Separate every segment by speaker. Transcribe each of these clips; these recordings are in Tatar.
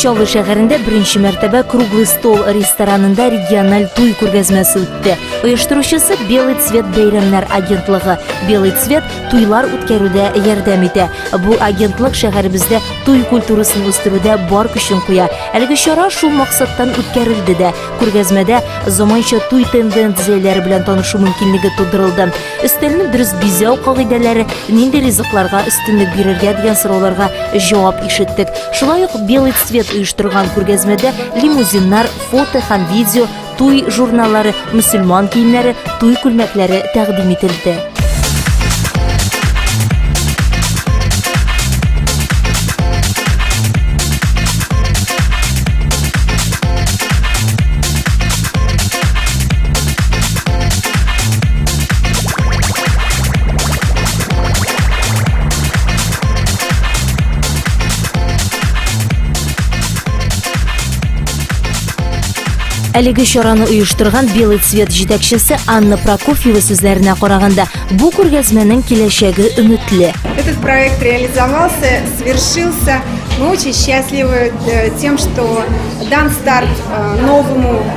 Speaker 1: Чаллы шәһәрендә беренче мәртәбә Круглый стол ресторанында региональ туй күргәзмәсе үтте. Оештыручысы Белый цвет бәйрәмнәр агентлыгы. Белый цвет туйлар үткәрүдә ярдәм итә. Бу агентлык шәһәребездә туй культурасын үстерүдә бар көчен куя. Әлеге чара шул максаттан үткәрелде дә. Күргәзмәдә заманча туй тенденцияләре белән танышу мөмкинлеге тудырылды. Өстәлне дөрес бизәү кагыйдәләре, нинди ризыкларга өстенлек бирергә дигән сорауларга җавап ишеттек. Шулай ук Белый цвет оештырган күргәзмәдә лимузиннар, фото һәм видео, туй журналлары, мөселман киемнәре, туй күлмәкләре тәкъдим ителде. Әлеге чараны оештырган Белый цвет җитәкчесе Анна Прокофьева сүзләренә караганда, бу күргәзмәнең киләчәге өметле. Этот проект
Speaker 2: реализовался, свершился. Мы очень счастливы э, тем, что дан старт э, новому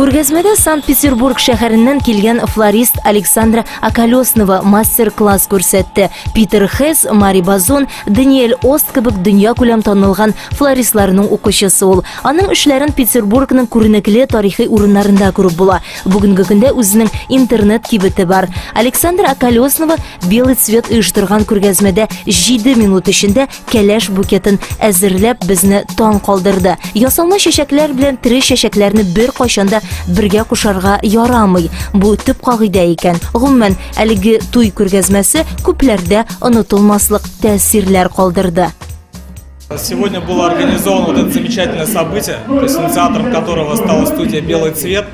Speaker 1: Күргәзмәдә Санкт-Петербург шәһәреннән килгән флорист Александра Акалеснова мастер-класс күрсәтте. Питер Хесс, Мари Базон, Даниэль Ост кебек дөньякүләм танылган флористларның укучысы ул. Аның эшләрен Петербургның күренекле тарихи урыннарында күреп була. Бүгенге көндә үзенең интернет-кибете бар. Александра Акалеснова Белый цвет оештырган күргәзмәдә җиде минут эчендә кәләш букетын әзерләп безне таң калдырды. Ясалма чәчәкләр белән тере чәчәкләрне бер кайшанда бергә кушарга ярамый. Бу төп кагыйдә икән. Гомумән, әлеге туй күргәзмәсе күпләрдә онытылмаслык тәэсирләр калдырды.
Speaker 3: Сегодня было организовано вот это замечательное событие, то есть инициатором которого стала студия «Белый цвет».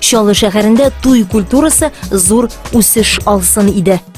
Speaker 1: Чаллы шәһәрендә туй культурасы зур үсеш алсын иде.